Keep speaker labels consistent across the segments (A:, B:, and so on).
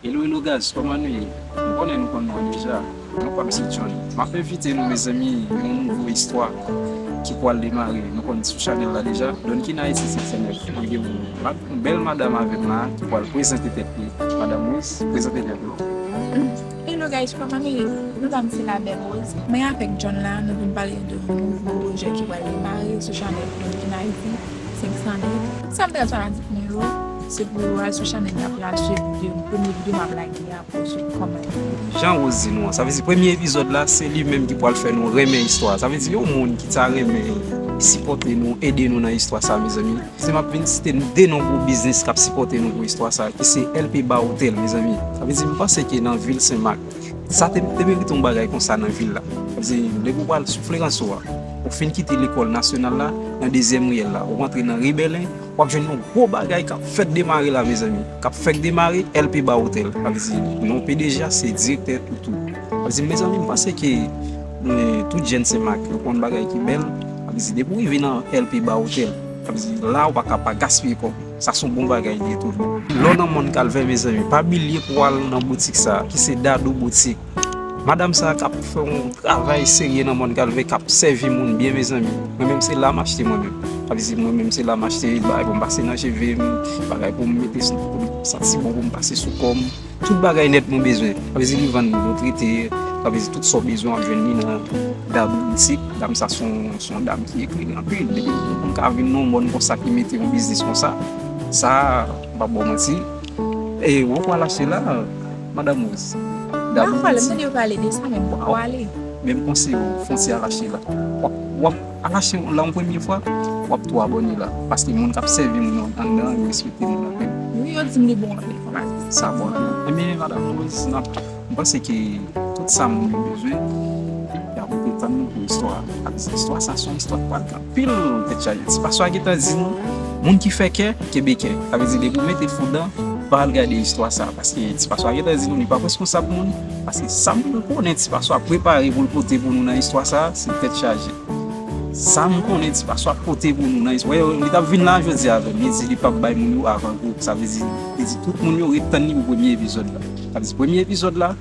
A: Hello hello guys koman nou ye m konnen nou konn mwen deja non pam se John map envite nou mezanmi yon nouvo istwa ki pwal demare nou konn sou chanèl la deja Donkin Haiti Seksyon 9 mwen gen yon bèl madam avèm la ki pwal prezante tèt li madam Rose prezante tèt ou. Hello guys koman nou
B: ye non pam se la belle Rose mwen avèk John la nou vin pale de yon nouvo pwojè ki pwal demare sou chanèl Donkin Haiti. 500 liv. Sam pral fè ak mwen yo se pou yo al sou chanèl la pou yo al swiv video m premye video map lage a pou yo swiv kòman li ye. Jan Rose di
A: nou an sa vle di premye epizòd la se li menm ki pral fè nou renmen istwa a sa vle di yon moun ki ta renmen sipòte nou ede nou nan istwa sa mezanmi se map vin site nou 2 non gwo biznis kap sipòte nou pou istwa sa ki se LP Bar Hotel mezanmi sa vle di m panse ke nan vil Senmak Sa te merite yon bagay konsa nan vil la. Se lè pou w pral sou Fleranso a, ou fin kite lekòl nasyonal la, nan dezyèm riyèl la, ou rantre nan ri Bèlen, w ap jwenn yon gwo bagay k ap fèk demare la mezanmi, k ap fèk demare, LP Bar Hotel. Sa vle di non pdg a se direktè Toutou. Sa vle di mezanmi m panse ke tout jèn Senmak yo konn bagay ki bèl. Sa vle di depi w rive nan LP Bar Hotel, sa vle di la ou pa ka pa gaspiye kòb. Sa son bon bagay li ye tou vre. Lè w nan mòn kalvè mezanmi pa bilye pou w al nan boutik sa ki se Dadou boutik. Madam sa kap fè yon travay serye nan mòn kalvè kap sèvi moun byen mezanmi. Mwen menm se la m achte mwen menm. Sa vle di mwen menm se la m achte bagay pou m pase nan cheve m, bagay pou m mete pou m santi bon pou m pase sou kò m. Tout bagay nèt mwen bezwen. Kapvèzi ki vann dlo trete, kapvèzi tout sa w bezwen w ap jwenn li nan Dab boutik. Dam sa se yon dam ki eklere anpil. Depi yon moun ka vin nan yon mòn konsa ki mete yon biznis konsa, sa m pap ba w manti. E wap wè alache la madam Rose. Dab boutik. Mwen tande
B: yo pale de sa men m poko ale. Men m konseye w
A: fon ti alache la. Ala cheri w la yon premye fwa wap tou abone la paske moun kap sèvi moun yo andan an yo respekte moun anpil. Wi yo dim li bon
B: anpil konpa. Sa bon
A: anpil. Ebyen madam Rose nap m panse ke tout sa moun yo bezwen yap rete tann nou pou istwa a paske istwa sa son istwa ki pral gen anpil tèt chaje ti paswa gentan di nou moun ki fè kè kenbe kè sa vle di depi w mete foudan pa al gade istwa sa paske ti paswa gentan di nou li pap reskonsab moun Paske sa m konnen ti paso ap prepare pou l pote pou nou nan istwa sa a, se tèt chaje. Sa m konnen ti paso ap pote pou nou nan istwa sa a, li t ap vin la jodi a avè m, li di li p ap bay moun yo avan gou, sa vle di li di tout moun yo ret tann li pou premye epizòd la. Sa vle di premye epizòd la,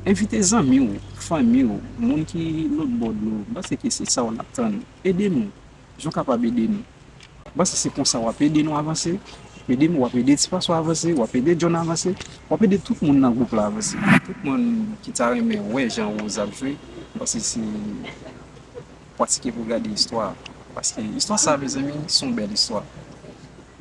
A: envite zanmi w, fanmi w, moun ki lotbò dlo, m panse ke se sa w ap tann. Ede nou jan w kapab ede nou. M panse se konsa wap ede nou avanse, wap ede m, wap ede ti Francois avanse, wap ede John avanse, wap ede tout moun nan gwoup la avanse. Tout moun ki ta renmen wè jan Rose ap jwe m panse se pratike pou gade istwa a paske istwa sa mezanmi se yon bèl istwa.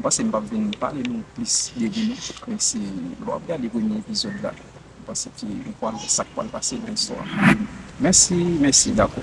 A: M panse m pap vin pale nou plis de li non men se lè wap gade premye epizòd la m panse ke ou pwal wè sak pwal pase nan istwa a. Mèsi, mèsi dakò.